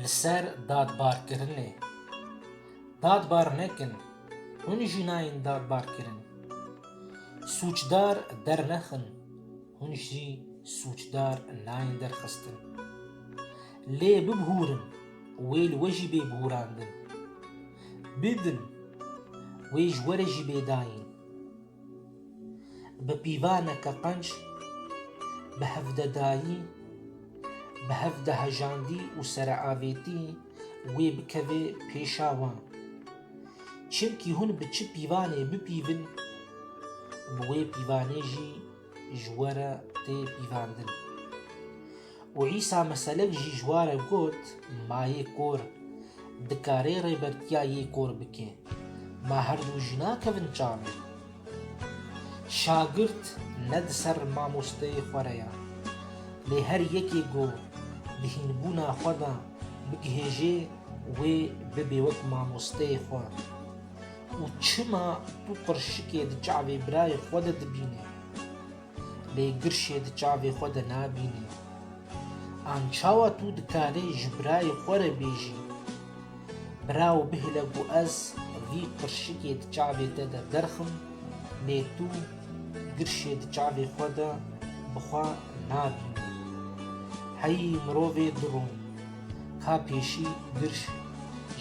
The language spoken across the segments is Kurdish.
Li ser dadbarkirinê dadbar nekin, hûn jî nayên dadbarkirin. Sûcdar dernexin, hûn jî sûcdar nayên derxistin. Lê bibûrin, wê li we jî bê bûrandin. Bidin, wê ji we re jî bê dayîn. Bi pîvaneke qenc, bi hevdedayî, bi hevdehejandî û sereavêtî wê bikeve pêşa wan. Çimkî hûn bi çi pîvanê bipîvin, bi wê pîvanê jî ji we re tê pîvandin. Û Îsa Meselik jî ji wa re got, Ma yê kor dikarê rêbertiya yê kor bike, ma her du jî nakevin çavê? Şagirt ne di ser mamosteyê xwe re ya, lê her yekê ku di hînbûna xwe de bigihêjê wê bibe wek mamosteyê xwe. Û çima tu qirşikê di çavê birayê xwe de dibînî? Lê girşê di çavê xwe de nabînî. An çawa tu dikarî ji birayê xwe re bêjî, Bira û bihile ku ez vî qirşikê di çavê te de derxim, lê tu girşê di çavê xwe de bi xwe nabînî. Heyî mirovê dirûn, ka pêşî girş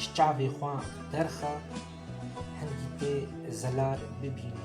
ji çavê xwe derxe, hingî tê zelal bibînî.